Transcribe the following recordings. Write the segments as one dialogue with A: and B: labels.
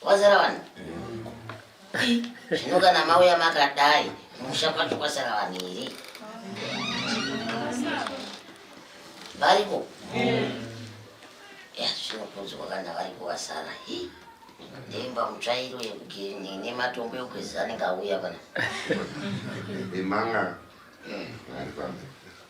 A: Kwazara vanhu. Zvino kana mauya makadai musha kwacho kwasara vanhu here? Variko? Ya zvinopunzwa kana variko vasara. Hii. ndimba mutsvairo yekugirini nematombo ekugezesa anenge auya pana imanga
B: hmm.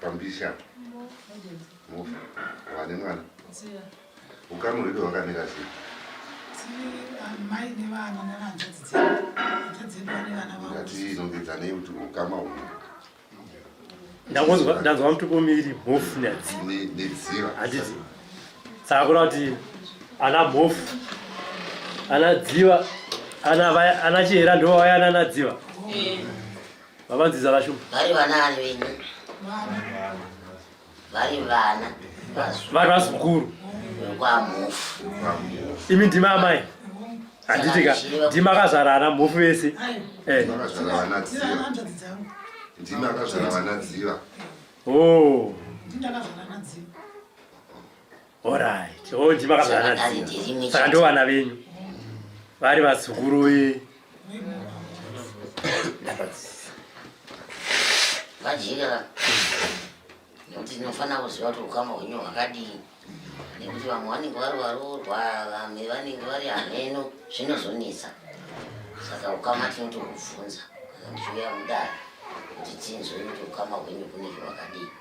B: pambisha mufi wane mwana
C: ukama hwedu
B: hwakamira sei
C: ngati inongedzanei kuti
B: ukama hwedu ndangonzwa
D: ndanzwa mutupo miri mhofu nyadzi nedziva handiti saka kura kuti ana mhofu ana dziva ana vaya ana chihera ndo vaya ana ana dziva vavanziza vashu vari vana ari venyu
A: vari vana vari
D: vazukuru vekwamufu imi ndimi amai handiti ka ndimi akazvara ana mhofu vese eh.
C: ndimi akazvara
B: vana dziva oh.
C: Alright.
D: Oh, ndimi makazana dzimwe. Saka ndo vana venyu. Vari vazukuru ve.
A: Vajira. Nekuti tinofanira kuziva kuti ukama hwenyu hwakadii. Nekuti vamwe vanenge vari varoorwa, vamwe vanenge vari hameno, zvinozonetsa. Saka ukama tinotokubvunza kana ndichiuya mudare kuti tinzwe kuti ukama hwenyu kunenge hwakadii.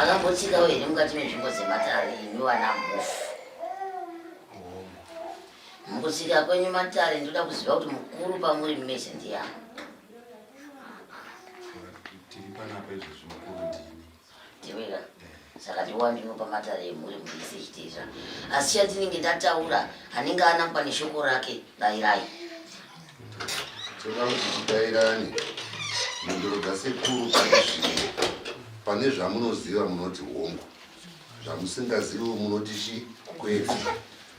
A: akambotsika wene mukati menzvimbo dzematare imi wana mhofu mukutsika kwenyu matare ndoda kuziva kuti mukuru pamuri mese ndiyani Tewera. Saka ndiwa ndinopa matare emhuri mhuri yese ichiteedza. Asi chandinenge ndataura anenge anangwa neshoko rake dairai.
B: Toda kuti tidairane mhinduro dzasekuru pane zvimwe. Pane zvamunoziva munoti hongu. Zvamusingazivi munoti chi kwete.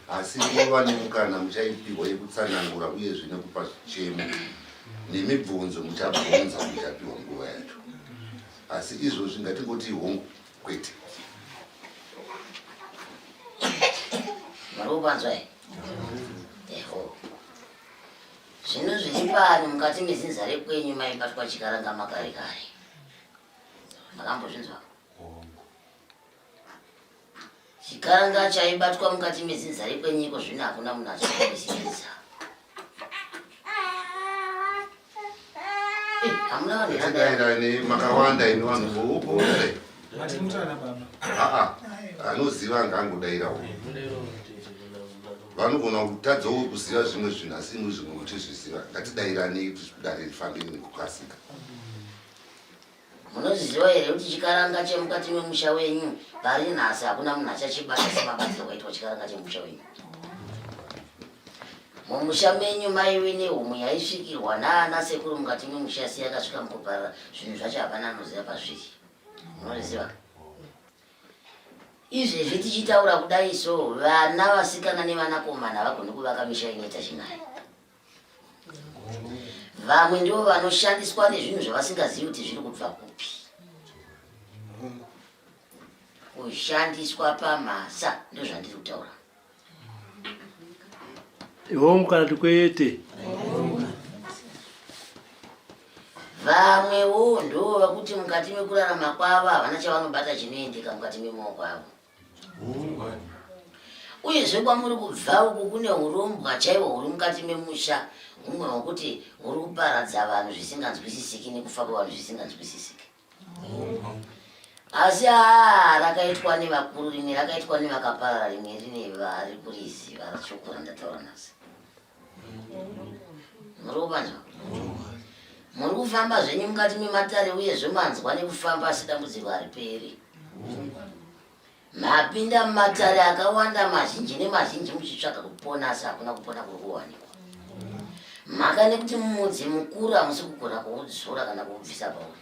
B: Asi nguva nemukana muchaipihwa yekutsanangura uyezve nekupa zvichemo nemibvunzo muchabvunza muchapihwa nguva yacho. asi izvozvi ngatingoti hongu kwete
A: marikupanzwa eho zvino zvichipani mukati mezinza rekwenyu maibatwa chikaranga makare kare makambozvinzwa Chikanga chaibatwa mukati mezinza rekwenyiko zvino hakuna munhu achakuisinisa. Eh, hamuna vanhu yandai makawanda
B: ini vanhu voupo ere? Matimutana
C: baba. Aa, anoziva
B: angangodaira wo. Vanogona kutadza wo kuziva zvimwe zvinhu asi imwe zvimwe kutizviziva. Ngatidairanei kuti dare rifambe nekukasika.
A: Munozviziva here kuti chikaranga chemukati memusha wenyu pari nhasi hakuna munhu achachibata semabatsiro kwaitwa chikaranga chemusha wenyu? mumusha menyu maive nehumwe yaisvikirwa naana sekuru mukati memusha siya akasvika mukuparara zvinhu zvacho hapana anoziva pazviri munoriziva izvezvi tichitaura kudai so vana vasikana nevanakomana havagoni kuvaka misha inoita chinai vamwe ndivo vanoshandiswa nezvinhu zvavasingazivi kuti zviri kubva kupi kushandiswa pamhasa ndozvandiri kutaura
D: hongu kana kuti kwete
A: vamwewo ndoo vakuti mukati mekurarama kwavo havana chavanobata chinoendeka mukati memooko avo uyezve kwamuri kubva uku kune urombwa chaiwo huri mukati memusha humwe hwokuti huri kuparadza vanhu zvisinganzwisisiki nekufa kwevanhu zvisinganzwisisiki asi haa rakaitwa nevakuru rimwe rakaitwa nevakaparara rimwe rine vari kuriziva rachokura ndataura nhasi muri kuvanzwa muri kufamba zvenyu mukati mematare uye zvemanzwa nekufamba asi dambudziko hariperi mapinda mumatare akawanda mazhinji nemazhinji muchitsvaga kupona asi hakuna kupona kuri kuwanikwa mhaka nekuti mudzi mukuru hamusi kugona kuudzora kana kuubvisa pauri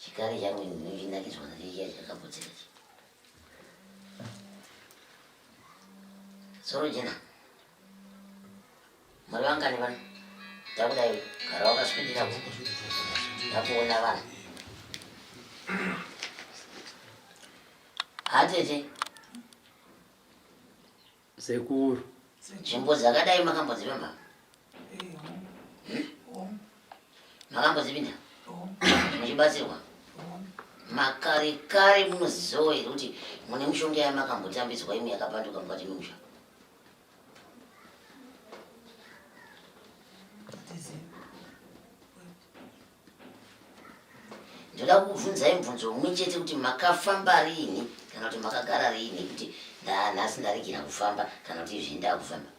A: chikari changu ndinochinakidzwa nacho chiya chakaputsika chi soro jena mari vangani vana takudai gara wakaswidira ndakuona vana hatete
D: Sekuru. Nzvimbo
A: dzakadai makamboziva mama? Eh, makambozipinda? Muchibatsirwa? Makare kare munozizowa here kuti mune mushonga yamakambotambidzwa imwe yakapanduka mukati memusha? ndoda kukubvunzai mubvunzo umwe chete kuti makafamba riini kana kuti makagara riini kuti ndanhasi ndaregera kufamba kana kuti izvi ndakufamba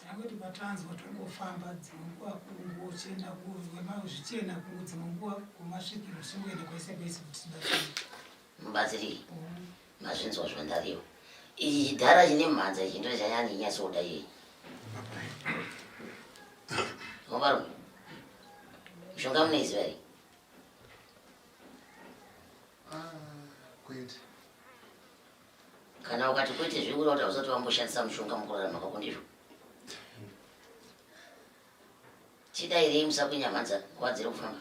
A: takoti
C: patanzwa tongofamba dzimwe nguva kungochena zvichena kungo dzimwe nguva kumasvikiro zvingoenda kwese kwese kuti tibatsirike mubatsirike
A: mm. Mazvinzwa zvandaviwa. Iyi chidhara chine mhanza ichi ndo chanyani nyatsoda iyeyi. Mavarume. Mishonga munoiziva here? Ah,
B: kwete. Kana
A: ukati kwete zvekureva kuti hausati wamboshandisa mushonga mukurarama kwako ndizvo. Chidairei musakunya mhanza kuwadzira kufamba.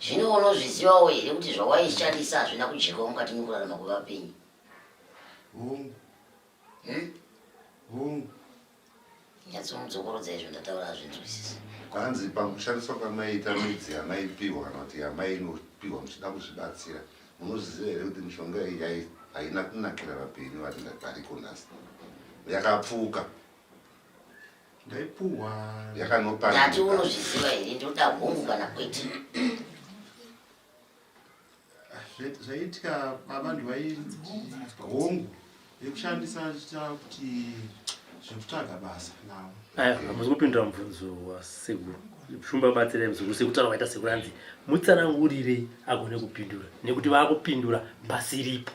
A: Zvino unozvizivawo here kuti zvawaishandisa hazvina kudyikawo mukati mekurarama kwevapenyu?
B: Hongu. Hmm? Hongu.
A: Nyatsomudzokorodzai izvo ndataura hazvinzwisisi. Kwanzi
B: pakushandiswa kwamaiita midzi yamaipiwa kana kuti yamainopiwa muchida kuzvibatsira munozviziva here kuti mishonga iyi haina kunakira vapenyu vari variko nhasi yakapfuka ndaipuhwa yakanopa ndati unozviziva
A: here ndoda hongu kana kwete
B: zvaitya baba ndivainzi hongu yekushandisa chita kuti zvekutsvaga basa navo hamusi kupindura
D: mubvunzo wasekuru shumba batsirai muzukuru sekutaura waita sekuru anzi mutsanangurirei agone kupindura nekuti vaakupindura basi ripo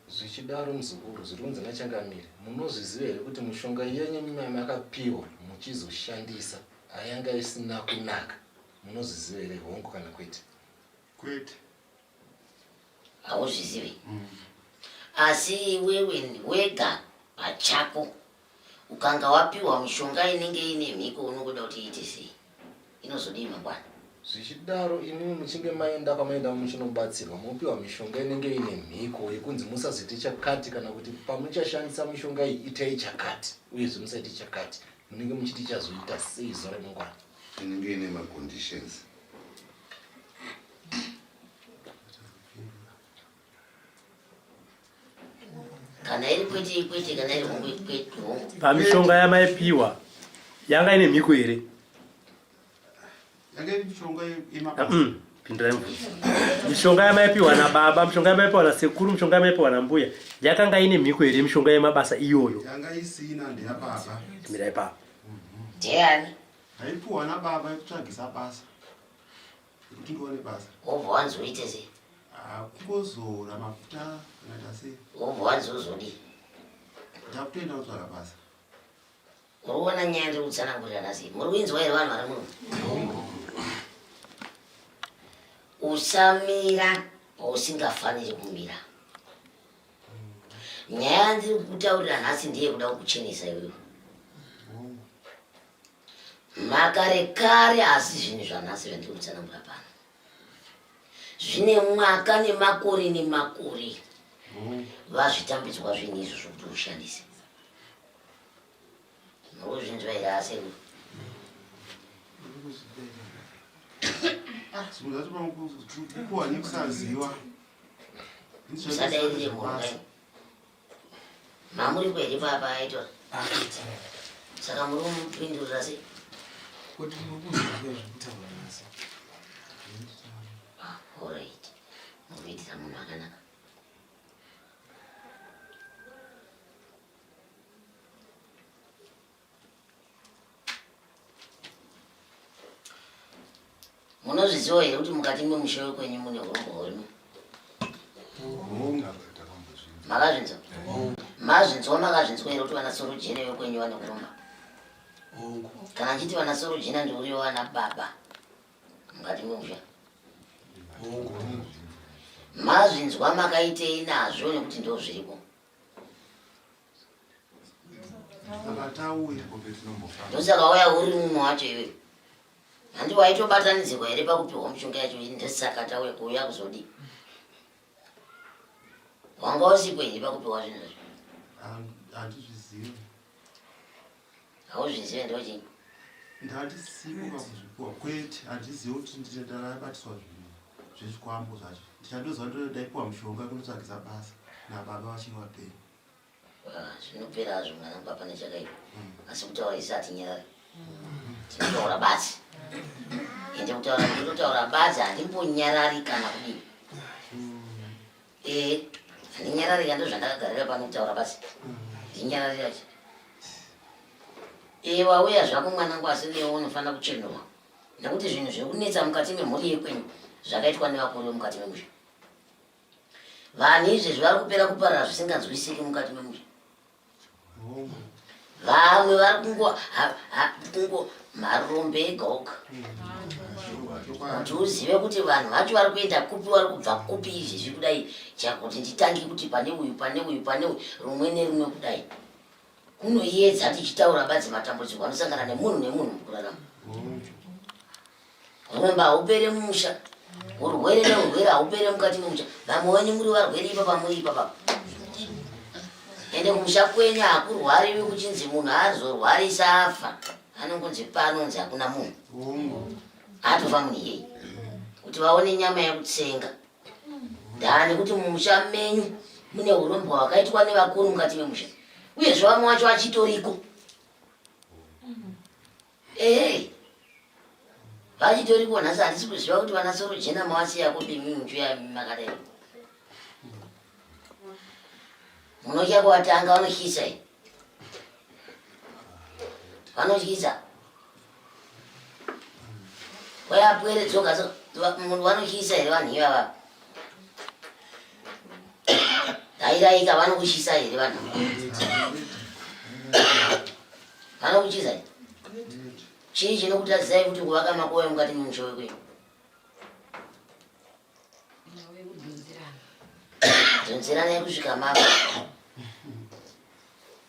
D: Zvichidaro
E: muzukuru, zviri kunzi naChangamire, munozviziva here kuti mushonga yenyu makapiwa muchizoshandisa ayanga isina kunaka? Munozviziva here hongu kana kwete? Kwete.
A: Hauzvizivi. Mm. Asi iwewe wega pachako Ukanga wapiwa mishonga inenge ine mhiko unokuda kuti iite sei? Inozodii mangwana? Zvichidaro
E: imimi muchinge maenda kwamaenda muchinobatsirwa mopiwa mishonga inenge ine mhiko yekunzi musazoite chakati kana kuti pamuchashandisa mishonga iyi itai chakati uyezve musaite chakati munenge muchiti chazoita sei zuva
B: remangwana
E: inenge ine maconditions
A: kana iri kwete ikwete kana iri hongu ikwete hongu pamishonga
D: yamaipiwa yanga ine mhiko here mm, pindirai mubvunzo mishonga yamaipiwa nababa mishonga yamaipiwa nasekuru mishonga yamaipiwa nambuya yakanga ine mhiko here mishonga yemabasa iyoyo
F: mirai papa
D: ndeyani
A: aipiwa
F: nababa yekutsvagisa basa wobva wanzi uite
A: sei ah, kungozora
F: mafuta akaita sei wobva wanzi uzodii ndakutoenda kutsvaka basa
A: muri kuona nyaya ndiri kutsanangurirana sei muri kuinzwa here vanhu vari muno usamira pausingafaniri kumira nyaya yandiri kutaurira nhasi ndeye kuda kukuchenesa iwewe makarekare asi zvinhu zvanhasi zvandiri kutsanangura pano zvine mwaka nemakore nemakore vazvitambidzwa zvinhu izvo zvokuti ushandise nokuzvinzwa here aseku
F: usadairire
A: mhurwa Mamuri kwedi papa aitwa. Saka muri kumupindurira sei? Kuti
F: muri kuzvibira zvekutaura nasi.
A: Ah, all right. Muri kuitira munhu akanaka. munozviziva here kuti mukati memusha wekwenyu mune urombo hurimo makazvinzwa mazvinzwa makazvinzwa here kuti vanasorujena vekwenyu vane kuromba kana ndichiti vanasorujena ndiuriwo vana baba mukati memusha mazvinzwa makaitei nazvo nekuti ndozviriko ndosaka waya uri mumwe wacho iwe handi waitobatanidzirwa here pakupiwa mushonga yacho ii ndosaka tauya kuuya kuzodii wanga usipo here pakupiwa zvinhu zvacho hauzvizive ndochii
F: ndatisipo pakuzvipuwa kwete handizive kuti nditendarabatiswa zvinhu zvezvikwambo zvacho ndichandoziva ndodaipuwa mushonga kunotsvagisa basa nababa vachiri vapenyu ah,
A: zvinopera hazvo mwana baba nechakaipa hmm. asi kutaura isi atinyarari hmm. tinotaura basi ende kutaura ndototaura basi handimbonyarari kana kudii Eh, ndinyararira ndozvandakagarira pano kutaura basi. Ndinyararira ch. Eh, wauya zvako mwanangu asi uye unofanira kuchenurwa. Nekuti zvinhu zviri kunetsa mukati memhuri yekwenyu zvakaitwa nevakuru vemukati memusha. Vanhu izvezvi vari kupera kuparara zvisinganzwisiki mukati memusha. vamwe vari kungo kungo marombe ega oga kuti uzive kuti vanhu vacho vari kuenda kupi vari kubva kupi izvi zviri kudai chakuti nditange kuti pane uyu pane uyu pane uyu rumwe nerumwe kudai kunoyedza tichitaura badzi matambudziko anosangana nemunhu nemunhu mukurarama Uromba haupere mumusha. Urwere neurwere haupere mukati memusha. Vamwe wenyu muri varwere ipa pamuri ipa papa. Ende kumusha kwenyu hakurwariwi kuchinzi munhu azorwarisa afa. Anongonzi panonzi hakuna munhu. Atofa munhu iyeye. Kuti vaone nyama yekutsenga. Ndani kuti mumusha menyu mune urombwa hwakaitwa nevakuru mukati memusha. Uyezve vamwe wacho achitoriko. Hey. Vachitori kuona sasa hatisi kuziva kuti vana soro jena mawasi yako bimi muchuya makadai. Munoja kuwatanga vanoshisa hii. Vanoshisa. Waya pwere dzoka so vanoshisa hii vanhu ivava. Tairaika vanokushisa here vanhu? Vanokuchiza here? Chii chinokutadzai kuti kuvaka makoya mukati memusha wekwenyu? Dzonzerana yekusvika mapa.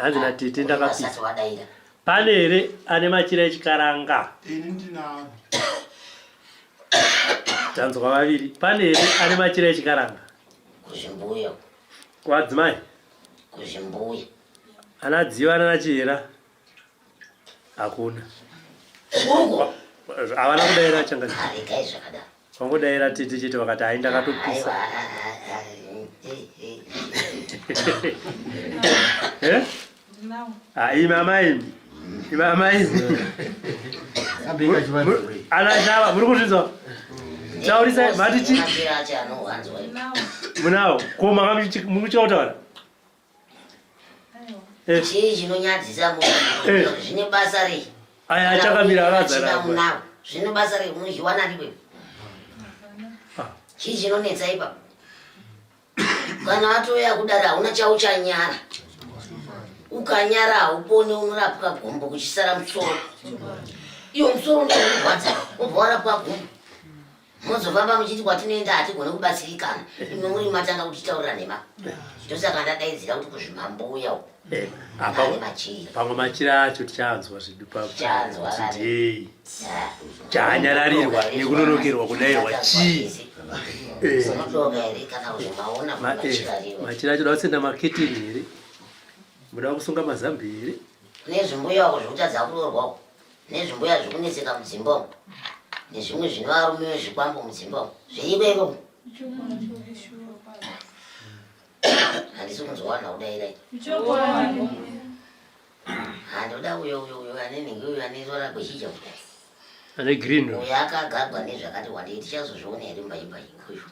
D: hanzi natete ndakapisa
A: pane here
D: ane machira echikaranga ini
F: ndinaro
D: tanzwa vaviri pane here ane machira echikaranga kuzvimbuya
A: kwadzimai kuzvimbuya ana
D: dziva anana chihera hakuna
A: havana
D: kudaira changaregai zvakadaro
A: Wangodaira tete
D: chete vakati hai ndakatopisa. Eh? Ah, imama imi. Imama imi. Ana chava muri kuzvinzwa? Taurisa mati chi? Munawo. Ko makamuchi mukuchautaura?
A: Eh. chii chinonyadzisa munhu eh. zvine basa rei aya achakamira
D: akazara zvine
A: basa rei unozviwana riwe ah. chii chinonetsa ipapo kana atoya kudaro hauna chauchanyara ukanyara haupone unorapwa gombo kuchisara musoro iyo musoro ndokurwadza ubva warapwa gombo mozofamba muchiti kwatinoenda hatigone kubatsirikana imwe muri matanga kutitaurira nhema ndosaka ndadaidzira kuti kuzvimambuya uko eh,
D: pamwe machira acho tichanzwa zvedu pakutii chanyararirwa nekunonokerwa kudairwa chii eh. eh, machira acho dakutsenda maketeni here muda kusunga mazambi here nezvimbuya wako
A: zvekutadza kuroorwa uko nezvimbuya zvekunetseka mudzimba umu nezvimwe zvino varume vezvikwambo mudzimba umu zviriko iko handisi kunzwawana kudairai handoda uyo uyo uyo ane nhingi uyo ane rora gwechija ane green
D: uyo akagagwa
A: nezvakati wandei tichazozviona here mbaimba ikoyo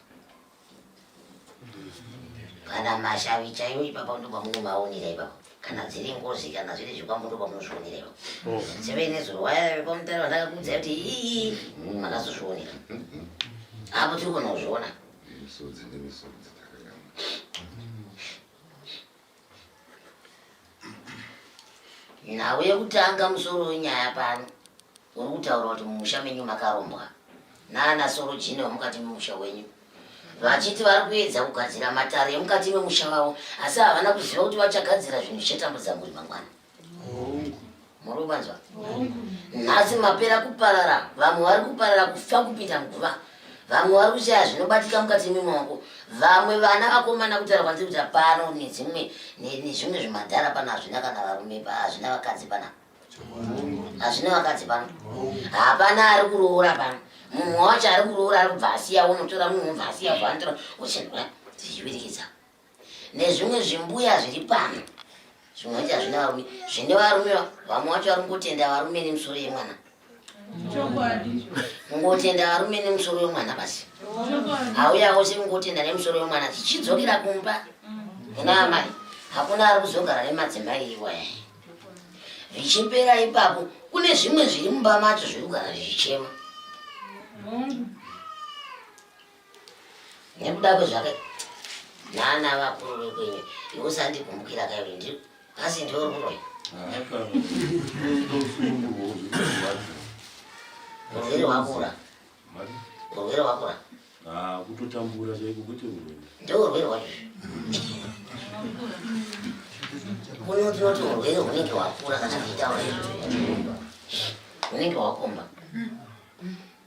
A: kana mashavi chaiwo ipapa ndobva munomaonera ipapa kana dziri ngozi kana zviri zvikwambo ndobva munozvionera ipapa oh. seve nezuro waya pamutare vandakakuudzai kuti ii mm, makazozvionera apo tiri kona kuzviona nhau yekutanga musoro wenyaya pano uri kutaura kuti mumusha menyu makarombwa naana sorojini vamukati memusha wenyu vachiti vari kuedza kugadzira matare emukati memusha vavo asi havana kuziva kuti vachagadzira zvinhu zvichatambudza mhuri mangwana murikuvanzwa nhasi mapera kuparara vamwe vari kuparara kufa kupinda nguva vamwe vari kuchaya zvinobatika mukati memaoko vamwe vana vakomana kutaura kwanzi kuta pano nedzimwe nezvimwe zvimadhara pano hazvina kana varume hazvina vakadzi pana hazvina vakadzi pano hapana ari kuroora pano munhu wacho ari kuroora ari kubva asiya unotora munhu ubva asiya ubva anotora uchenura tichivirikidza nezvimwe zvimbuya zviri pano zvimwanje hazvina varume zvine varume vamwe wacho vari kungotenda varume nemusoro yemwana kungotenda varume nemusoro yemwana basi auya wose kungotenda nemusoro yemwana chichidzokera kumba kuna amai hakuna ari kuzogara nemadzimai iwaya zvichipera ipapo kune zvimwe zviri mumba macho zviri kugara zvichichema nekuda kwezvaka nana vakuru vekwenyu iusandigumbukira kairi ndi asi ndiwe ruroyi urwere wakura urwere wakura ah, kutotambura
G: chaiko kuti urwere ndeurwere wacho
A: kuno tinoti urwere hunenge wakura kana kuitaura izvo hunenge wakomba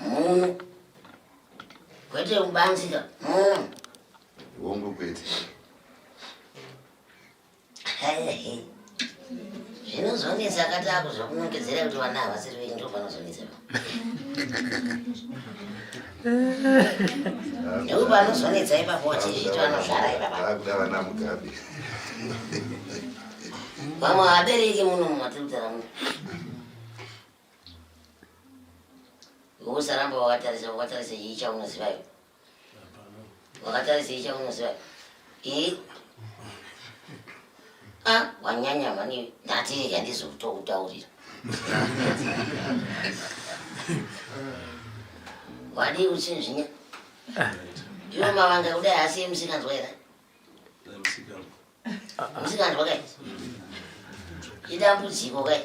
A: muno kwete kubanzika muno
B: hongu kwete
A: zvinozonetsa akati akuzva kunongedzera kuti vana havasiri venyu ndo panozonetsa neu panozonetsa ipapo wachizviti vanozvara ipapakuda vana mugabe vamwe havabereki muno mumatiri kutara muno usaramba wakatarisa wakatarisa chii chaunoziva iwe wakatarisa chii chaunoziva i a ah, wanyanya mani ndati rega ndizokutokutaurira wadii uchinzvinya iwe mavanga kudai asiye musikanzwa here Usinganzwa kai? Idambudziko kai?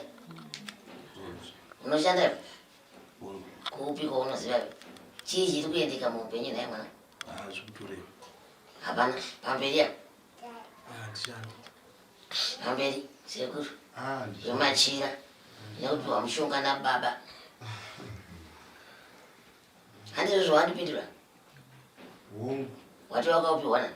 A: Unoshanda iwe? Kupi kwaunoziva iwe? Chii chiri kuendeka muupenyu nhai mwana? Hapana, pamberi apo. Pamberi, sekuru. Zvemachira. Nekupiwa mushonga nababa. Handizvo zvawandipindura? Wati wakapiwa nani?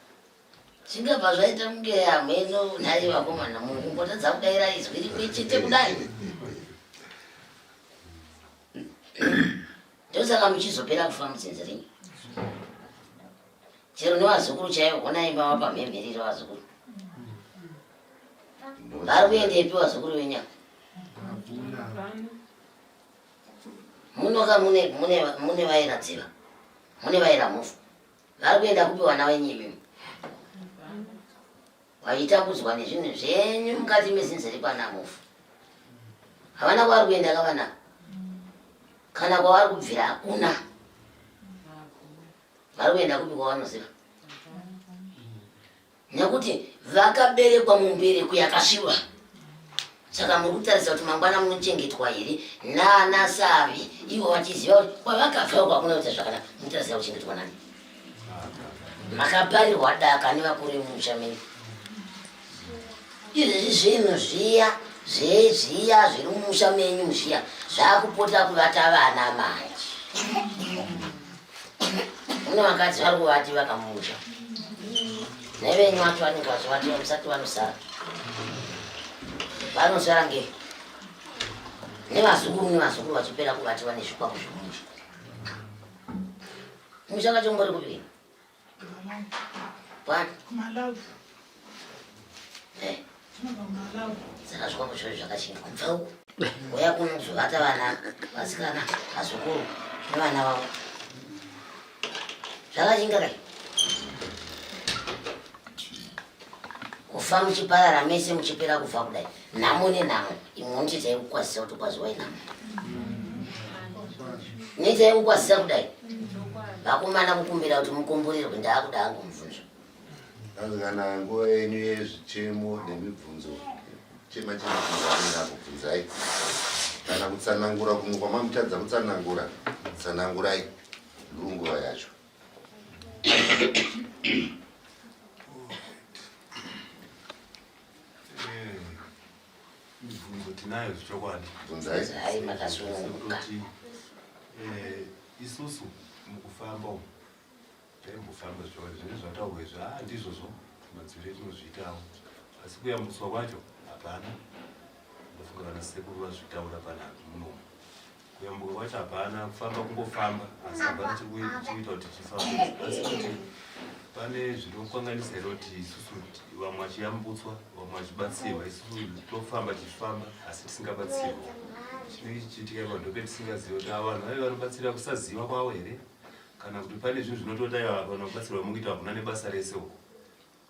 B: zvingabva
A: zvaita kunge hameno nhai vakomana munhu kumbotadza kudaira izwi rimwe chete kudai ndosaka muchizopera kufa mudzinzi renyu chero nevazukuru chaivo honai mava pamhemherero vazukuru vari kuendepi vazukuru venyama munoka mune vairadziva mune vairamufu Vari kuenda kupi vana venyu imimi? Vaitakudzwa nezvinhu zvenyu mukati mezinze rekwana Mhofu. Havana kwavari kuenda ka vana kana kwavari kubvira hakuna. Vari kuenda kupi kwavanoziva? nekuti vakaberekwa mumbereko yakasviba saka muri kutarisa kuti mangwana munochengetwa here nana savi ivo vachiziva kuti kwavakabva kwakuna kuita zvakanaka munotarisira kuchengetwa nani makaparirwa daka nevakuru vemusha menyu izvezvi zvinhu zviya zvezviya zviri mumusha menyu zviya zvakupota kuvata vana manje Mune vakadzi vari kuvati vakamusha nevenyu vacho vanenge vachivati vamusati vanosara vanosara nge nevazukuru nevazukuru vachipera kuvati vane zvikwako zvemusha musha kacho ngori kupii What? My love. Eh. Saka zvikwambo zviro zvakachinja kubva uku. Uya kunozovata vana vasikana vazukuru nevana vavo. Zvakachinja kai. Kufa muchiparara mese muchipera kufa kudai. nhamo nenhamo imwe unoti itai kukwazisa kuti kwaziwai nhamo niitai kukwazisa kudai vakomana kukumbira kuti mukomborerwe ndaakuda angu mubvunzo asi kana
B: nguva yenyu yezvichemo nemibvunzo chema chemaanenge akubvunzai kana kutsanangura kumwe kwamamutadza kutsanangura tsanangurai ndunguva yacho
G: mibvunzo tinayo zvechokwadi bvunzai
A: makasununguka eh,
G: isusu mukufamba umu taimbofamba zvechokwadi zvine zvataurwa izvi a ah, ndizvozvo madzivire tinozviitawo asi kuyambuswa kwacho hapana ndofunga vana sekuru vazvitaura pananhu munomu Nyambo wacho hapana kufamba kungofamba asi hapana chikuita kuti chifamba asi kuti pane zvinokanganisa here kuti isusu vamwe vachiyambutswa vamwe vachibatsirwa isusu tofamba tichifamba asi tisingabatsirwa chinenge chichiitika madhoke tisingaziva kuti ava vanhu vave vanobatsira kusaziva kwavo here kana kuti pane zvinhu zvinotoda iva vanobatsirwa mukuita hakuna nebasa rese uko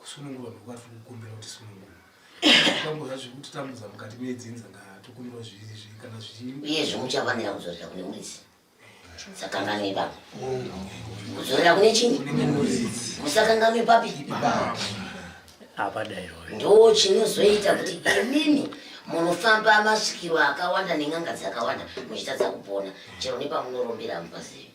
C: kusunungurwa ndokuva tiri kukumbira kuti sunungurwa tambura zvekuti tambudza mukati medzinza ngatokumbirwa zviviri zvii kana zvichii iye zvomuchafanira
A: kuzorera kune muridzi sakanganwe baba kuzorera kune chini musakanganwe papi
D: ndo chinozoita
A: kuti imimi munofamba masvikiro akawanda nen'anga dzakawanda muchitadza kupona chero nepamunorombera mupazivi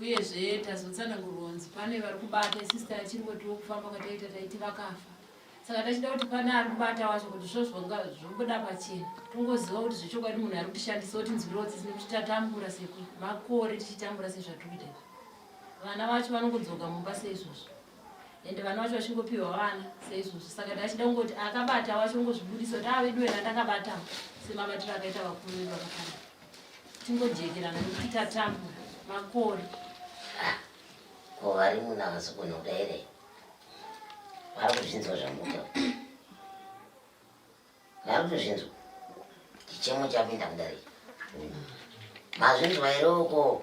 H: uyezve tazotsanangurwa kunzi pane vari kubata isisi tachingotiwo kufamba kwataita taiti vakafa saka tachida kuti pane ari kubata wacho kuti zvo zvomboda pachena tongoziva kuti zvechokwadi munhu ari kutishandisa kuti nzwirodzisi nekuti tatambura semakore tichitambura sezvatiri kuita vana vacho vanongodzoka mumba seizvozvo ende vana vacho vachingopiwa vana seizvozvo saka ndachida kungoti akabata wacho ungozvibudisa kuti ave duwe randakabatawo semabatiro akaita vakuru vedu vakafana tingojekerana nekuita tambo makore ah,
A: ko vari muna vasukunoda here vari kuzvinzwa zvamuta vari kutozvinzwa chichemo chapinda kudari mazvinzwa here uko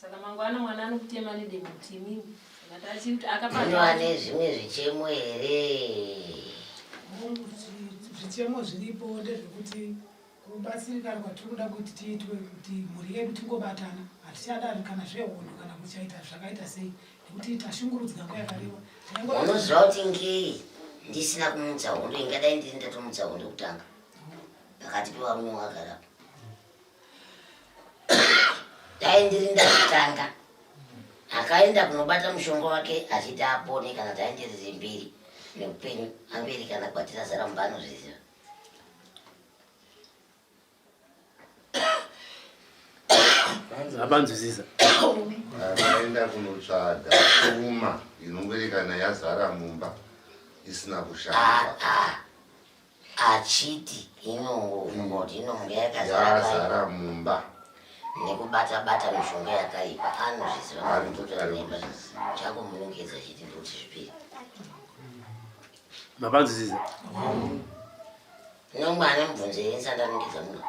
H: Saka mangwana mwana anokutema nedemo kuti imimi kana tachiri kuti akapaa ane zvimwe
A: zvichemo here
C: zvichemo zviripo ndezvekuti kubatsirikana kwatiri kuda kuti tiitwe kuti mhuri yedu tingobatana hatichadari kana zvehondo kana kuchaita zvakaita sei nekuti tashungurudzwa nguva yakareba unoziva kuti
A: ngei ndisina kumutsa hondo ingadai ndiri ndatomutsa hondo kutanga pakati pevarume wagarapo dai ndiri ndakutanga akaenda kunobata mushonga wake achiti apone kana dai ndiri zimbiri neupenyu amberi kana kwatira zara mumba anozviziva
D: abanzwisisa akaenda
B: kunotsvaga uma inongoerekana yazara mumba isina kushanda ah, ah. achiti
A: inungo unoti inonga yakazara mumba
B: nekubata-bata
A: mishonga yakaipa anozviziva anototora mimba chakumunongedza chiti ndoti zvipiri
D: mapanzisiza
A: nomwana mubvunzo yensandanongedza muno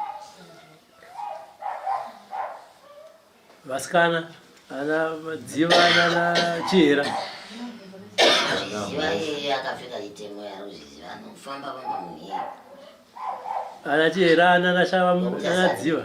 D: vasikana ana dziva nana chihera ana chihera nana shava nana dziva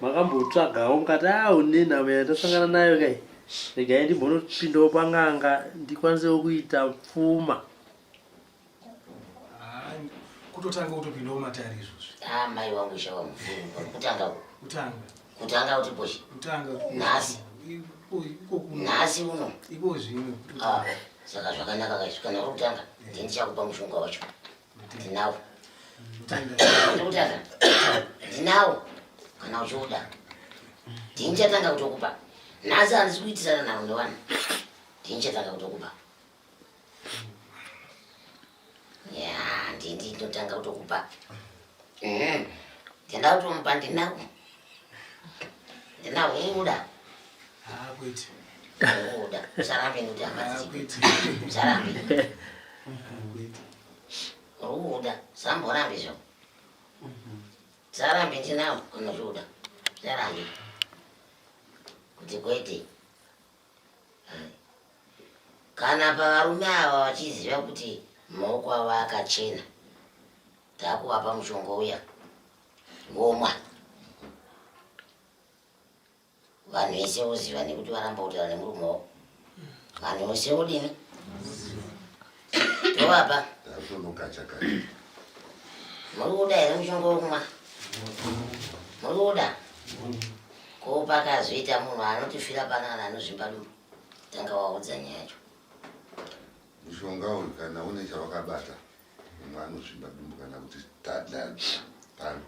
D: makambotsvagawo mukati awo ah, nenhamo yatasangana nayo kai regai ndimbonopindawo pan'anga ndikwanisewo kuita pfuma
C: kutotanga utopindawo matari izvozvi ah, mai wangu shawa
A: kutanga kutanga kutanga kuti boshe kutanga nhasi nhasi uno iko zvino
C: ah, saka
A: zvakanaka kaizvikana kutanga eh. ndichakupa mushonga wacho ndinawo ndikutadza ndinawo kana uchiuda ndinichatanga kutokupa nhasi handisi kuitisana navo ndowana ndinichatanga kutokupa ya ndindi ndotanga kutokupa mm-hmm. ndinda kutomupa ndinawo Ndina huda. Ah,
C: kwete. Huda.
A: Usarambe kuti hama dziko. Usarambe. Huda. Samborambe zvo. Usarambe ndinawo unozvuda. Usarambe. Kuti kwete. Kana pavarume ava vachiziva kuti maoko avo akachena takuvapa mushonga uya ngomwa vanhu vese voziva nekuti varamba kutaura nemurume wavo vanhu vose vodini tovapa muri kuda here mushonga wokumwa muri kuda ko pakazoita munhu anotifira panana anozvimba dumbu tanga waudza nyaya yacho
B: mushonga uyu kana une chawakabata Munhu anozvimba dumbu kana kuti tadla pano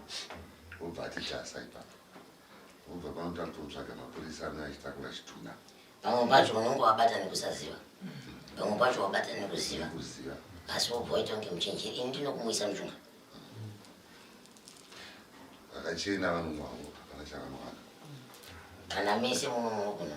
B: obva ati tasa ipapo. Obva pano takutotsvaga mapurisa anouya achitakura chitunha. Pamwe pacho
A: unenge wabata nekusaziva. Pamwe pacho wabata nekuziva. Kuziva. Asi wobva waita kunge muchenjeri. Ini ndinokumuisa muchunga.
B: Vakachena vanonwa havo hapana chavanovaka. Kana
A: mese muno munokunwa.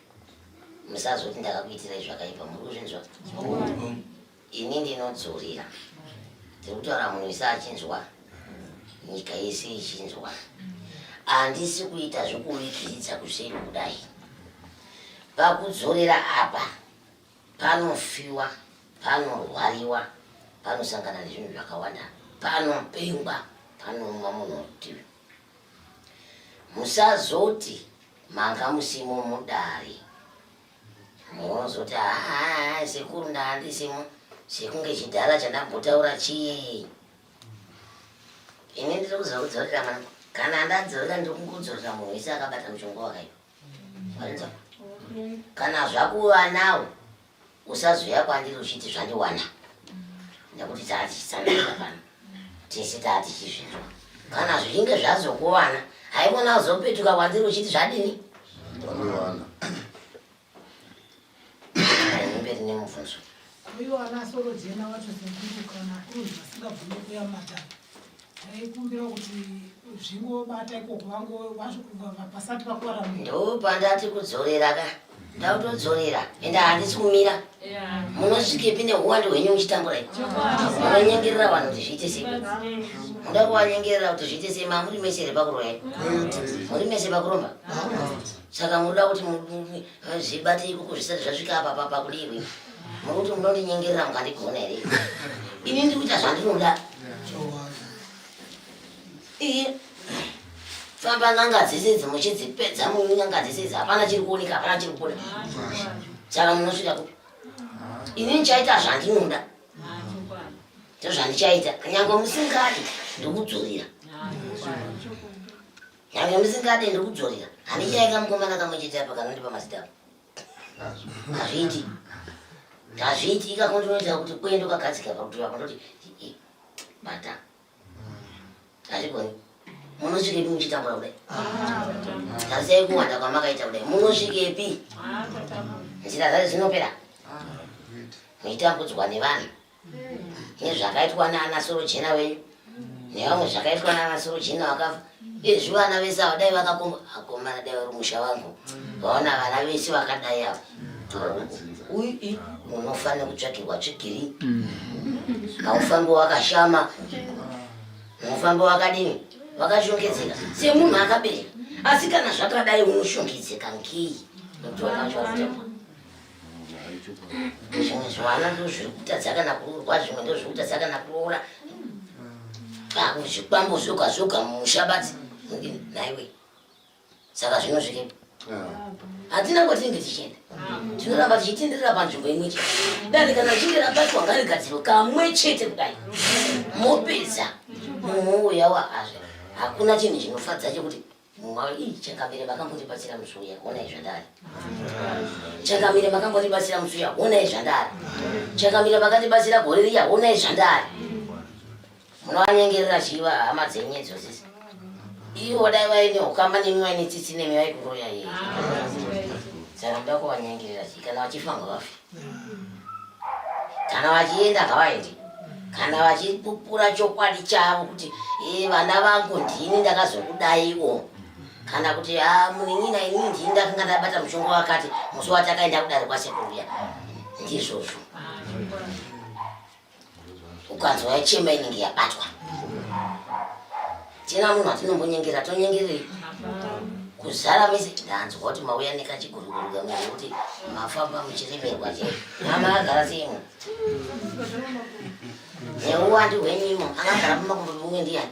A: musazoti ndakakuitirai zvakaipa muri kuzvinzwa ini ndinodzurira tiri kutaura munhu ise achinzwa nyika yese ichinzwa handisi kuita zvekuvikiridza kuseri kudai pakudzorera apa panofiwa panorwariwa panosangana nezvinhu zvakawanda panopengwa panouma munhu rutivi musazoti Manga musimo mudare. Mozoti haa sekuru ndaandisimo sekunge chidhara chandambotaura chii. Ini ndiri kuziva kudzorera mwana. Kana ndadzorera ndiri kungodzorera munhu wese akabata muchongo wakaipa. Kana zvakuva nawo Usazoya kwandiri uchiti zvandiwana nekuti taatichisanaa pano tese taatichizvinzwa kana zvichinge zvazokuwana haikona uzopetuka kwandiri uchiti zvadini
B: ndonowana
A: mberi nemubvunzo uyo ana
I: soro jena wacho sekuru kana kuru vasingabvume kuyamata ndaikumbira kuti zvingobata ikoko vangopasati vakuvara ndopandati
A: kudzorera ka ndautodzorera ende handisi kumira munosvikepi neuwandu hwenyu muchitambura munonyengerera vanhu kuti zviite sei muda kuvanyengerera kuti zviite sei mamuri mese here pakuroya muri mese pakuromba saka munoda kuti Zvibate ikuku zvisati zvasvika apa papa kudirwi. Muri kuti munondinyengerera mukandigona here? Ini ndiri kuita zvandinoda. Iye famba n'anga dzese idzi muchidzipedza n'anga dzese idzi hapana chiri kuoneka hapana chiri kubuda. Saka munosvika kupi? Ini ndichaita zvandinoda. Ndozvandichaita. Nyangwe musingadi ndokudzorera. Nyangwe ndisingade ndiri kudzorera. Handichaika mukomana kamwe chete apa kanondipa mazita apo. Hazviiti. Hazviiti ikako ndinoita kuti kuenda kwagadzika pakuti vako ndoti bata. Hazvigoni. Munosvikepi muchitambura kudai? Tarisai kuwanda kwamakaita kudai. Munosvikepi? Nzira dzacho dzinopera. Muchitambudzwa nevanhu. nezvakaitwa naana sorojena wenyu nevamwe zvakaitwa naana sorojena vakafa izvi vana vese ava dai vakakomba akomana dai vari musha vangu vaona vana vese vakadai ava uii unofanira kutsvakirwa tsvigiri haufambi wakashama unofamba wakadini vakashongedzeka semunhu akabereka asi kana zvakadai unoshongedzeka ngei nokuti vakachautema zvimwe zvivana ndozviri kutadza kana kuroorwa zvimwe ndozviri kutadza kana kuroora zvikwambo zvoga zvoga mushabadzi naiwe saka zvino zviripo hatina kwatinenge tichienda tinoramba tichitenderera panzvimbo imwe chete dani kana chinge rabatwa ngarigadziro kamwe chete kudai mopedza mumwe uya waazve hakuna chinhu chinofadza chekuti Mwari ii chakamire makambotibatsira musi uya onai zvandari chakamire makambotibatsira musi uya onai zvandari chakamire makatibatsira gore riya onai zvandari munoanyengerera chiva hama dzenyu idzo sisi ivo dai vaine ukama nemi vaine tsitsi nemi vaikuroya iye saka muda kuvanyengerera chii kana vachifa ngavafe kana vachienda ngavaende kana vachipupura chokwadi chavo kuti e vana vangu ndini ndakazokudaiwo kana kuti a ah, munin'ina inini ndini ndakanga ndabata mushonga wakati musi watakaenda kudare kwasekuru ya ndizvozvo ukanzwa yachema inenge yabatwa tina munhu atinombonyengera tonyengerei kuzara mese ndanzwa kuti mauya nekachiguruguru kamwe kuti mafamba muchiremerwa che mama agara seimwe neuwandi hwenyimo akagara mumakumbo mumwe ndiyani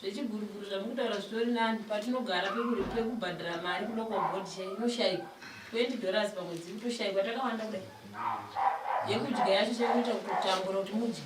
H: Zvechiguruguru zvamukutaura zvitori nani patinogara pekuri pekubhadhara mari kuda kwa board chai inoshaikwa 20 dollars pamwedzi kutoshaikwa takawanda kudai yekudya yacho chekuita kutotambura kuti mudye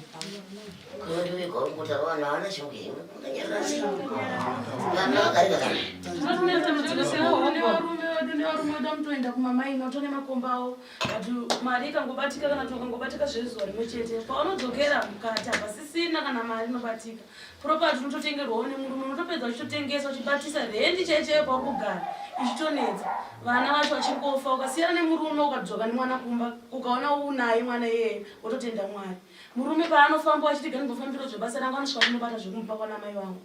J: toenda kumamaina otone makomba awo but mari ikangobatika kana kuti ukangobatika zvezuva rimwe chete paunodzokera mukati hapasisina kana mari inobatika property unototengerwawo nemurume unotopedza uchitotengeswa uchibatisa rendi chaichaiyo pauri kugara ichitonetsa vana vacho vachiri kofa ukasiyana nemurume ukadzoka nemwana kumba ukaona unaye mwana iyeye wototenda mwari murume paanofamba wachiti ganibofambiro zvebasa rangu anosvika kunobata zvekumupa kwana mai vangu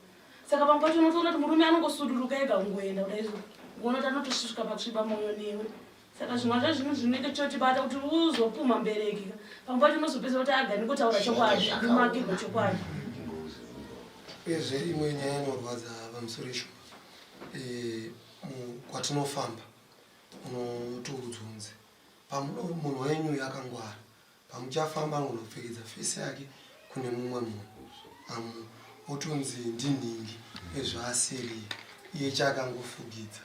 J: saka pamwe pacho unotoona kuti murume anongosuduruka ega kungoenda kudai unoti anotosvika patsviba moyo newe saka zvimwe zvacho zvinhu zvinenge chotibata kuti uzopumha mbereki pamwe pacho unozopedza kuti agani kutaura chokwadi kumakirwa chokwadi uyezve
K: imwe nyaya inorwadza pamusoro isho eh, kwatinofamba unotiudzunzi pamunhu wenyu yakangwara Pamuchafamba angonopfekedza face yake kune mumwe munhu amu otonzi ndinhingi ezvaasiri iye chaakangofugidza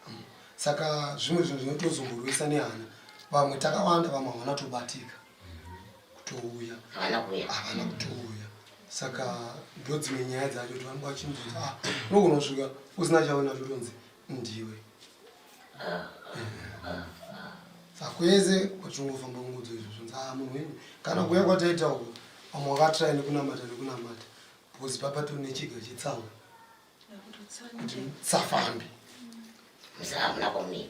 K: amu saka zvimwe zvinhu zvinotozomborwisa nehana vamwe takawanda vamwe havana tobatika kutouya havana kuuya havana kutouya saka ndodzimwe nyaya dzacho kuti vanenge vachinzii ah, unogonosvika usina chaona totonzi ndiwe sakweze wachingofamba ngudzo izvo zvonzi a munhu wenyu kana kuya kwataita uko vamwe wakatrai nekunamata nekunamata because papa tiri nechiga chitsawa kuti safambi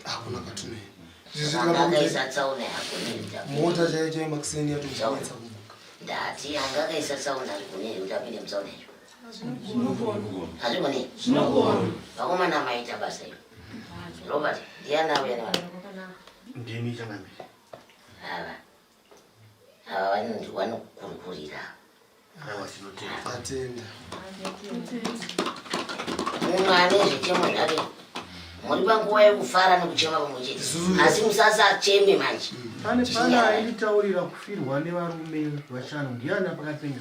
K: hakuna kwatinoenda mota chaichai makuseni yatoanetsa kumuka ndati angakaisa tsaona ari kunei kuti apinde mutsaona icho
A: hazvigoni vakomana maita basa io robert ndianauya nevana ndimi
F: changamiri ava
A: ava vanonzi vanokurkurira munhu ane zvichemo zvake muri panguva yekufara nekuchema pamwe chete asi musasacheme manje pane pane
L: aitaurira kufirwa nevarume vashanu ndiani apakapenga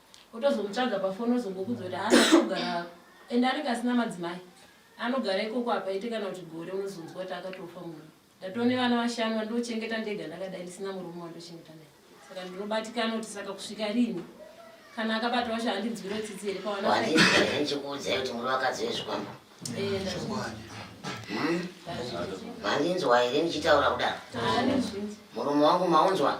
H: otozomutsvaga pafoni ozongokuudza kuti haana kugara ende anenge asina madzimai anogara ikoko hapaite kana kuti gore unozonzwa kuti akatofa munhu ndatoo nevana vashanu vandochengeta ndega ndakadai ndisina murume wandochengeta naye saka ndinobatikana kuti saka kusvika rini kana akabata wacho handinzwiro tsitsi here pawanachikuudzai
A: kuti muri vakadzi vezvikwambo mandinzwa here ndichitaura kudaro murume wangu maunzwa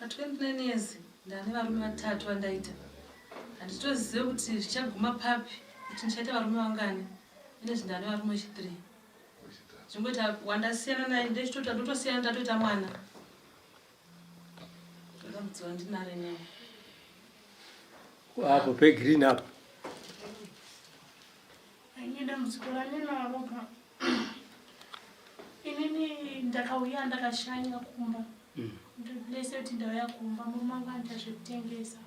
J: Pa 29 years ndane varume vatatu vandaita. Handitozive kuti zvichaguma papi kuti ndichaita varume vangani. Ine zvindane varume chi 3. Zvimboita wandasiyana naye ndechitota ndotosiyana ndatoita mwana. Ndakamudziwa ndinare naye.
D: Wapo pe green up.
M: Ini dambudziko randinaro pa inini ndakauya ndakashanya kumba mm. ndese kuti ndauya kumba murume wangu anoita zvekutengesa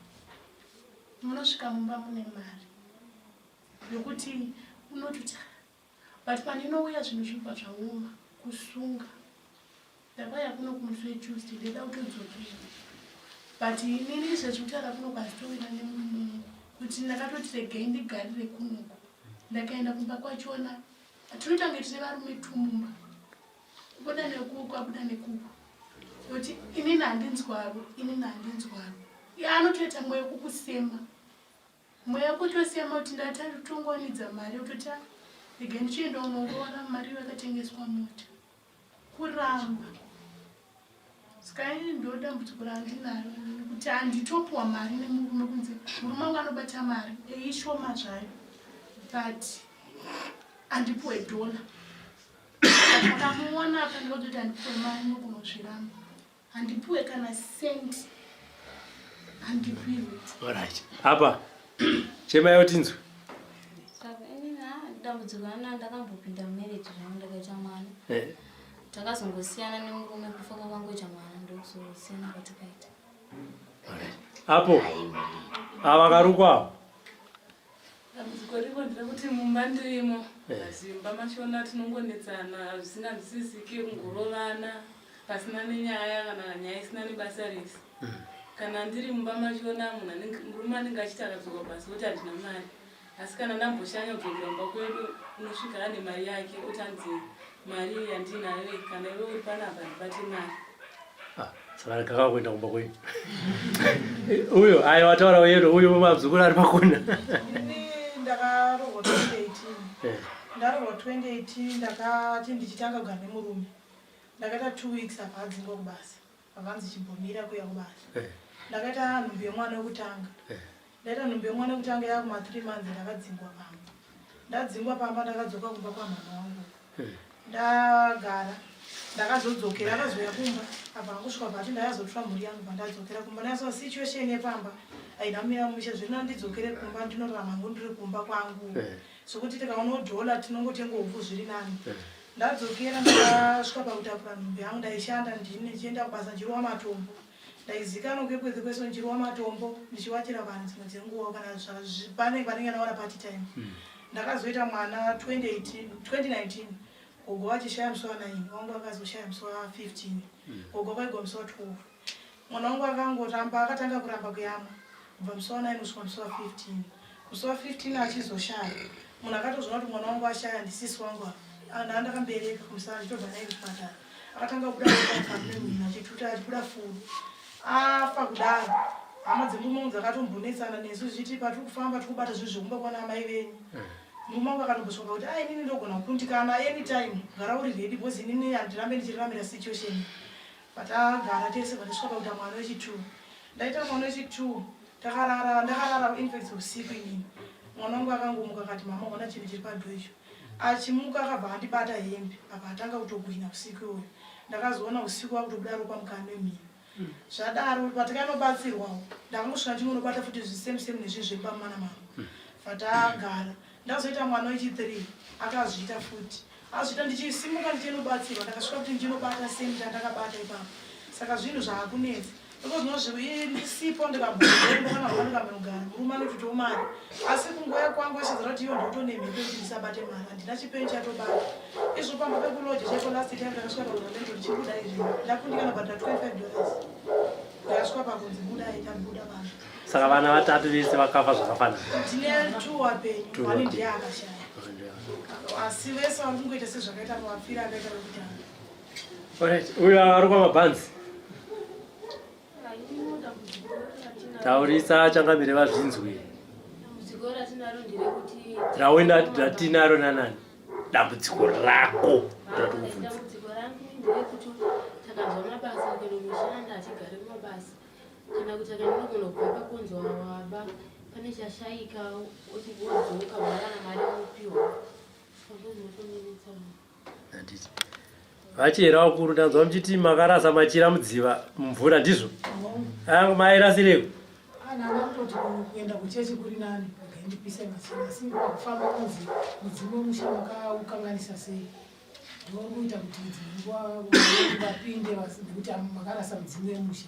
M: munosvika mumba mune mari yokuti unototi but pandinouya zvinhu zvinobva zvaoma kusunga Ndakauya kuno kumuswe Tuesday ndida kutodzokera but inini zvazvitaura kuno kwazitowira nemunungu kuti ndakatoti regai ndigarire kunoku ndakaenda kumba kwachona tinotange tine varume tumumba kubuda nekuku kwabuda nekuku kuti inini handinzwavo inini handinzwavo anotoita mweyo kukusema Mweya kutosema kuti ndatongowanidza mari yototi ah, regai ndichienda unoroora mari yakatengeswa mota kuramba saka ini ndo dambudziko randinaro kuti handitopuwa mari nemurume kunze murume wangu anobata mari eishoma zvayo but andipuwe dhola akamuona apa ndikototi andipuwe mari nokunozviramba
D: Handipuwe kana cent. Handipuwe. All right. Apa. Chema yayo tinzwe.
N: Dambudziko ana ndakambopinda marriage zvangu ndakaita mwana. Eh. Takazongosiyana nemurume kufa kwakangoita mwana ndokuzosiyana kwatakaita. All right.
D: Apo. Ava karukwa.
J: Dambudziko riko nderekuti mumba ndirimo zimba eh. mashona tinongonetsana zvisinganzwisisike kungorovana pasina nenyaya kana nyaya isina nebasa rese hmm. kana ndiri mumba mashona munhu murume anenge achiti akadzoka basa kuti handina mari asi kana ndamboshanya kudzokera mumba kwedu unosvika ane mari yake otanzi Mari yandinayo iyi kana iwe uri panapa
D: ndibate mari. Ah, saka kaka kuenda kumba kwenyu. Uyo ayo wataura uyero uyo mumabzukuru ari pakona.
I: Ini ndakarohwa 2018. Eh. Ndarohwa 2018 ndakati ndichitanga kugara nemurume. Ndakaita 2 weeks apa adzingwa kubasa. Vakanzi chimbomira kuya kubasa. Eh. Ndakaita nhumbu yemwana wekutanga. Eh. Ndaita nhumbu yemwana wekutanga yakuma 3 months ndakadzingwa pamba. Ndadzingwa pamba ndakadzoka kumba kwamama wangu. Eh. Ndagara ndakazodzokera akazouya kumba apa akusvika pati ndakazotora mhuri yangu pandadzokera kumba ndakasova situation yepamba haina kumira mushe zvirina ndidzokere kumba ndinorarama ngo ndiri kumba kwangu sokuti eh. tikaona dhola tinongotenga hupfu zviri nani eh. Ndadzokera ndakasvika pakutapura nhumbi yangu ndaishanda ndini ndichienda kubasa ndichirowa matombo. Ndaizikanwa kwekwedzi kwese ndichirowa matombo ndichiwachira vanhu dzimwe dzenguva kana pane vanenge ndawana party time. Hmm. Ndakazoita mwana 2018, 2019 gogo vachishaya musi wa 9 wangu vakazoshaya musi wa 15 hmm. gogo vaigwa musi wa 12 Mwana wangu akangoramba akatanga kuramba kuyamwa kubva musi wa 9 kusvika musi wa 15 musi wa 15 achizoshaya munhu akatozvona kuti mwana wangu ashaya ndisisi wangu apa anhu andakambereka kumusana achitobva naye kuchipatara akatanga kubuda akamemhina achituta achibuda furu afa kudaro hama dzemumwangu dzakatombonetsana nesu zvichiti patiri kufamba tiri kubata zvinhu zvekumba kwana amai venyu eh. mumwangu akatombosvaka kuti a inini ndogona kukundikana anytime gara uri redi bcause inini handirambe ndichiriramira situation Patagara tese patasvika pakuita mwana wechi2 ndaita mwana wechi2 takarara ndakarara infact usiku inini mwana wangu akangomuka akati mama ona chinhu chiri padho icho achimuka akabva andibata hembe apa atanga kutokuhina usiku iwoyo ndakazoona usiku wakutobuda ropa mukani wemhini hmm. zvadaro patikanobatsirwawo ndakangosvika ndinonobata futi zvisemusemu nezvinhu zvepamana mangu hmm. fatagara mm. Ndazoita mwana wechi three akazviita futi azviita ndichisimuka ndichinobatsirwa ndakasvika kuti ndinobata same chandakabata ipapo saka zvinhu zvaakunetsa ndisipo ndikabombokanaakanogara murume anototiwo mari asi kungoya kwangu achizara kuti iyo ndotonemhepo yekuti ndisabate mari handina chipeni chatobata izvo pamba pekuloja chaiko last time ndakasvika pakuramendo ndichibuda izvi ndakundikana bhadhira 25 dollars ndakasvika pakunzi budai tabuda vanhu saka vana vatatu
D: vese vakafa zvakafanana
I: uyo ari
D: kwamabhanzi taurisa changamire vazvinzwi
H: raoenda ratinaro
D: nanani dambudziko rako
H: ratikubvunza Kana kuti akanogona kubva pakunzwa waba pane chashaika wodzoka wawana
D: mari unopiwa vachera vakuru ndanzwa muchiti makarasa machira mudziva mumvura ndizvo angu mairasireko
I: kuenda kuchechi kuri nani ndipise machira asi kufamba kunzi mudzimu wemusha makaukanganisa sei ndokuita kuti vapinde nekuti makarasa mudzimu wemusha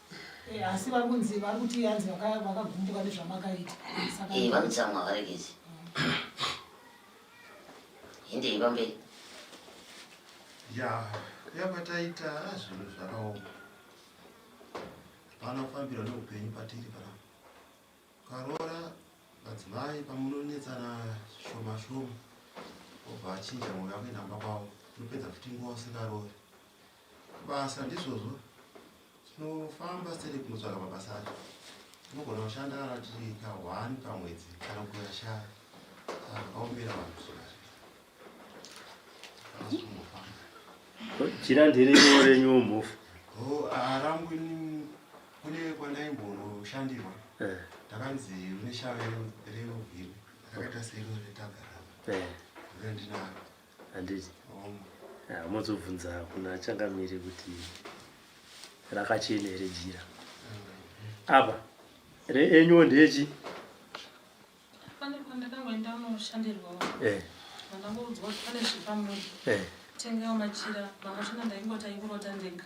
A: Eh, asi
I: vari kunzi vari kuti hanzi vakagumbuka nezvamakaita eh, vanotsamwa
A: varegezi hindei pamberi ya
F: yapataita zvinhu zvakaoma hapana kufambira neupenyu patiri pana ukaroora madzimai pamunonetsana shoma shoma obva achinja mwoyo akuenda mba kwavo unopedza futi nguva usikaroori Basa ndizvozvo tinofamba seri kunotsvaga mabasa acho tinogona kushanda kana tiri kahwani pamwedzi kana kugona shaya akaombera vanhu
D: jira ndirimo renyu mhofu harangu
F: ah, ini kune kwandaimbonoshandirwa eh. ndakanzi une shaya reuvhiri akaita sero retagarama eh. ndinaro handiti
D: mozobvunza kuna changamire kuti rakachena here jira apa reenyuwo ndechi
M: ndakaudzwa kuti pane zvepamunhu eh. tengawo machira vamwe china ndaingoti aikurota ndega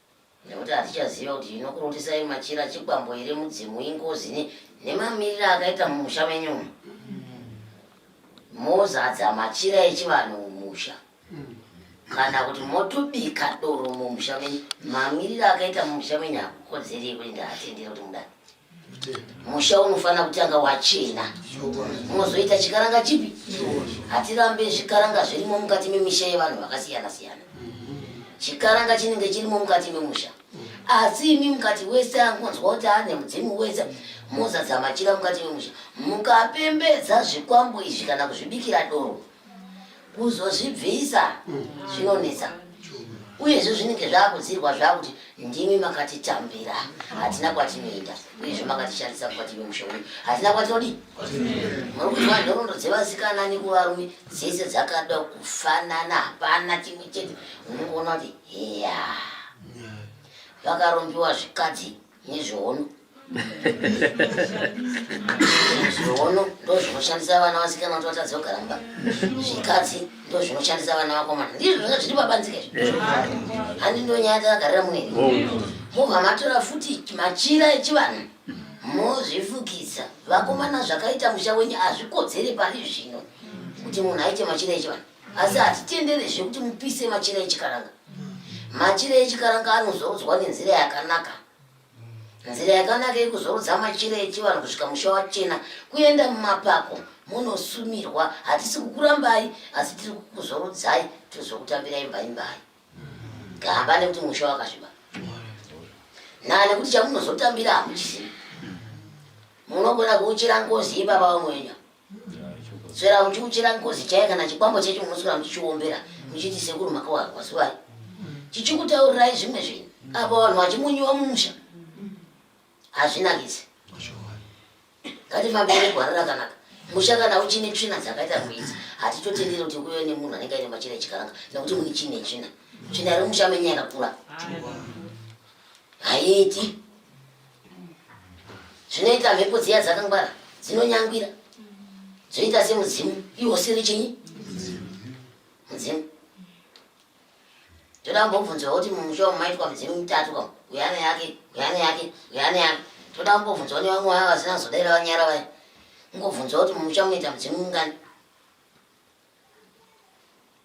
A: nekuti hatichaziva kuti inokurutisai machira chikwambo here mudzimu ingozi nemamiriro akaita mumusha menyu mozadza machira echivanhu mumusha kana kuti motobika doro mumusha menyu mamiriro akaita mumusha menyu hakukodzeri ekuti ndaatendere kuti mudai musha unofanira kutanga wachena unozoita chikaranga chipi hatirambe zvikaranga zvirimo mukati memisha yevanhu vakasiyana siyana chikaranga chinenge chirimo mukati memusha asi imi mukati wese angonzwa kuti ane mudzimu wese mozadza machira mukati memusha mukapembedza zvikwambo izvi kana kuzvibikira doro kuzozvibvisa zvinonetsa uyezve zvinenge zvakudzirwa zvakuti ndimi makatitambira hatina kwatinoenda uyezve makatishandisa kwative mushe uyu hatina kwatodi muri kuziva nhorondo dzevasikana nekuvarume dzese dzakada kufanana hapana chimwe chete unongoona kuti heya vakarombiwa zvikadzi nezviono zviono ndozvinoshandisa vana vasikana kuti vatadze kugara mumba zvikadzi ndozvinoshandisa vana vakomana ndizvo zvanga zviri pabanzika izvo handi ndonyaya takagarira munei mobva matora futi machira echivanhu mozvifukidza vakomana zvakaita musha wenyu hazvikodzere pari zvino kuti munhu aite machira echivanhu asi hatitendere zvekuti mupise machira echikaranga machira echikaranga anozorodzwa nenzira yakanaka nzira yakanaka yekuzorodza machira echivanhu kusvika musha wachena kuenda mumapako munosumirwa hatisi kukurambai asi tiri kukuzorodzai tozokutambira imba imbai gamba nekuti musha wakasviba naa nekuti chamunozotambira hamuchizivi munogona kuuchira ngozi ipapa vamwenya sera muchiuchira ngozi chaiye kana chikwambo chechi munoswera muchichiombera muchiti sekuru makawarwa zuvai chichikutaurirai zvimwe zvinhu apa vanhu vachimunyiwa mumusha hazvinakisi ngatifambire gwara rakanaka musha kana uchine tsvina dzakaita rwizi hatitotendere kuti kuve nemunhu anenge aine machira echikaranga nekuti mune chine tsvina tsvina remusha menye yakakura haiiti zvinoita mhepo dziya dzakangwara dzinonyangwira dzoita semudzimu iwo siri chinyi mudzimu toda kumbobvunzwa kuti mumusha umu maitwa midzimu mitatu kam uyane yake uyane yake uyane yake toda kumbobvunzwa ne vamwe vaya vasina kuzodaira vanyara vaya kungobvunzwa kuti mumusha munoita mudzimu mungani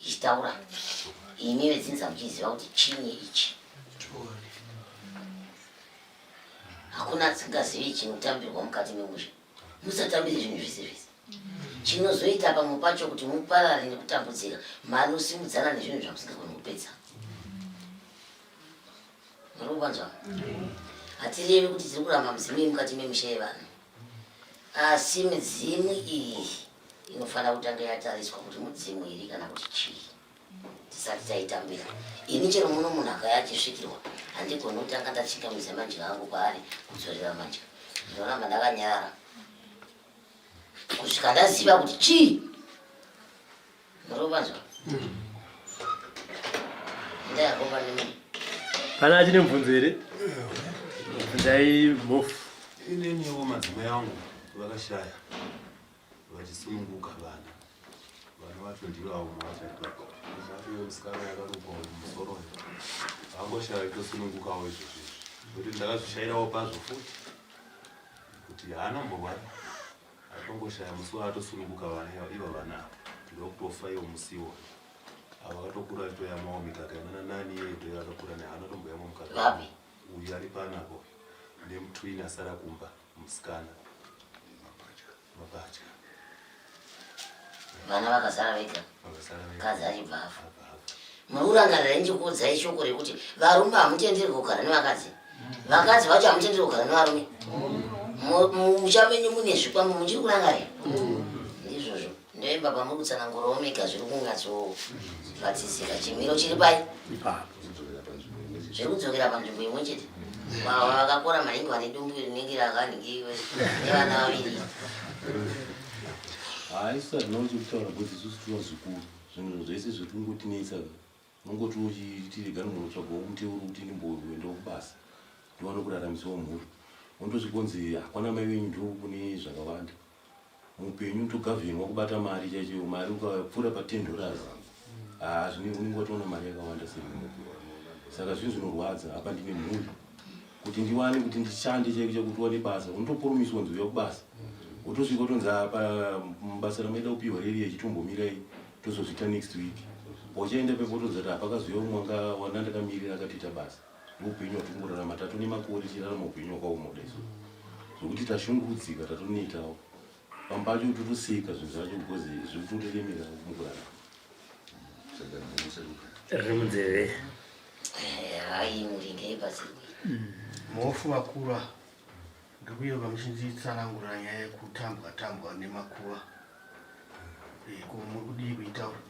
A: ichitaura imi vedzinza muchiziva kuti chinyi ichi hakuna asingazivi chinotambirwa mukati memusha musatambire zvinhu zvese zvese chinozoita pamwe pacho kuti muparare nekutambudzika mari osimudzana nezvinhu zvamusingagoni kupedza muri kuvanzwa hatirevi kuti tiri kuramba mudzimu yemukati memusha yevanhu asi midzimu iyi inofanira kutanga yatariswa kuti mudzimu iri kana kuti chii tisati taitambira ini chero muno munhu akaya achisvikirwa handigoni kutanga ndachingamisa madya angu kwaari kudzorera madya ndinoramba ndakanyara kusvika ndaziva kuti chii Kana achine
D: mvunzo here? Ndai mhofu. Ineniwo
G: madzimai angu vakashaya vachisununguka vana vana vacho ndivo avo mwachaaasikana yakarukwa musoro vangoshaya itosunungukawo izvozvo izvi kuti ndakazvishairawo pazvo futi kuti haana mborwara Atongoshaya musi waatosununguka vana iva iva vana ava ndokutofa iwo musiwo ava vatokura toyamawo mikaka inana nani iye toyo akakura ne hana tomboyamwa mukaka Vapi? uyu ari
A: panapa
G: uyu nemutwini asara kumba musikana mapatya
A: Vana vakazara vega. mukadzi achibva afa muri kurangarira ndichikuudzai shoko rekuti varume hamutenderwi kugara nevakadzi vakadzi vacho hamutenderwi kugara nevarume mucha menyu mune zvikwambo muchiri kurangarira ndizvozvo ndoimba pamuri kutsanangura omega zviri kungatsozvatisika chimiro chiri pai zviri kudzokera panzvimbo imwe chete vakakora maningi vane dumbu rinenge rakanhingi nevana vaviri
O: haisi hazvina kuti kutaura kuti isusu tinozukuru zvinhu zvese zviri kungotinetsa unongoti uchitirega munhu tsvaga muteuro kuti ndimboenda kubasa ndiwane kuraramisawo mhuri wondozvikonzi hakwana mai venyu ndo kune zvakawanda muupenyu togavhenwa kubata mari chaicho mari ukapfuura patendorazi Ah, zvine unenge watoona mari yakawanda semupi saka zvinhu zvinorwadza apa ndine mhuri kuti ndiwane kuti ndishande chaiko chakuti wane basa unotopurumiswa nzwi yakubasa wotosvika utonzi apa mubasa ramaida kupihwa riri achitombomirai tozozviita next week pauchaenda pepo utonzi ati hapakaziva umwe anga wana ndakamirira akatoita basa ndoupenyu hwatingorarama tato nemakore tichirarama upenyu hwakaoma kudai so zvokuti tashungurudzika tatonetawo pamba pacho kuti tusika zvinhu zvacho because zviri kutotiremera mukurara riri
D: munzeve
A: aimuringei
L: pasi
A: muhofu
L: vakura ndikuyoka muchinditsanangura nyaya yekutambwa tambwa nemakuva ko muri kudii kuitaura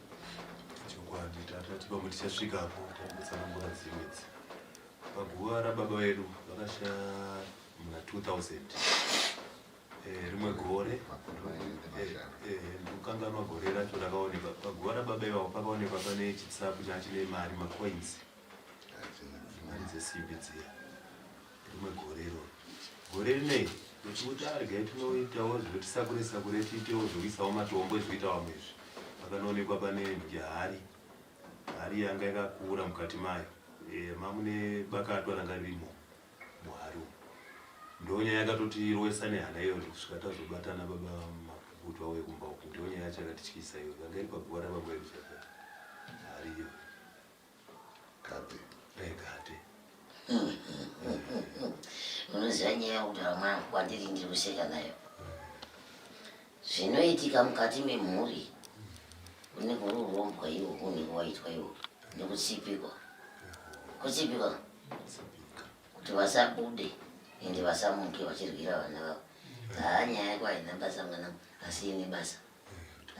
L: chokwadi
G: tatatipa kuti chasvika apo pakutsanangura dzimwedzi paguva rababa vedu vakashaya muna 2000 Eh, rimwe gore eh, eh, ndokanganwa gore racho rakaonekwa paguva rababa ivavo pakaonekwa pane chitsapu changa chine mari macoins mari dzesimbi dziya rimwe gore iroro gore rinei ndochikuti arega tinoitawo zvotisakure sakure tiitewo zvokuisawo matombo ezvoita vamwe izvi pakanoonekwa pane nhungi hari hari yanga yakakura mukati mayo mamune bakatwa ranga ririmo Mwari ndonyaya yakatotirwesa nehana iyo ndikusvika tazobatana baba mapukutu vauye kumba uku ndonyaya yacho yakatityisa iyo yanga iri paguva rababa vedu chaka hariyo
B: kate eh, kate
A: unoziva nyaya yekutaura mwangu kwandiri ndiri kuseka nayo zvinoitika mukati memhuri unenge uri urombwa iwo unenge waitwa iwo nekutsipikwa kutsipikwa kuti vasabude ende vasamuke vachirwira vana vavo haa nyaya yako haina basa mwana asi ine basa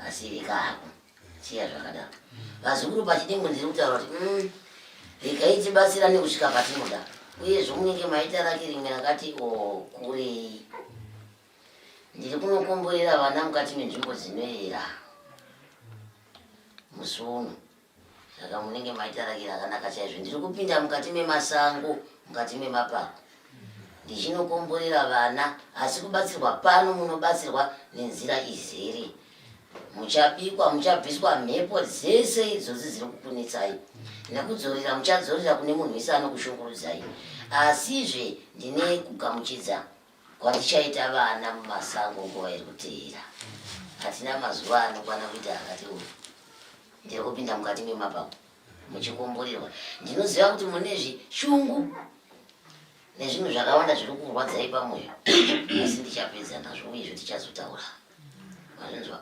A: asi ikako siya zvakadaro vazukuru pachidimbo ndiri kutaura kuti mm, rikaitibatsira nekusvika patinoda uyezvo munenge maita rake rimwe rakati o kurei Ndiri kunokomborera vana mukati menzvimbo dzinoyera musi uno saka munenge maitarakira akanaka chaizvo ndiri kupinda mukati memasango mukati memapako ndichinokomborera vana asi kubatsirwa pano munobatsirwa nenzira izere muchabikwa muchabviswa mhepo dzese idzodzi dziri kukunetsai nekudzorera muchadzorera kune munhu wese anokushungurudzai asizve ndine kugamuchidza Kwatichaita vana mumasango nguva iri kuteera. Hatina mazuva anokwana kuita akati uyu. Ndiri kupinda mukati memapango muchikumburirwa. Ndinoziva kuti mune zvishungu nezvinhu zvakawanda zviri kurwadzai pamwoyo asi ndichapedza nazvo uye zvetichazotaura Anzwa.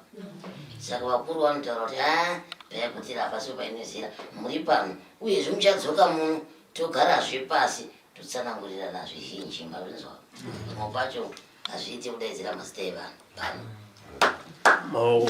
A: Saka vakuru vanotaura kuti a payakutira hapasi painezira muri pano uyezve muchadzoka muno togarazve pasi totsanangurirana zvizhinji marinzwa pamwe pacho hazviite kudaidzira mazita evanhu pano maoko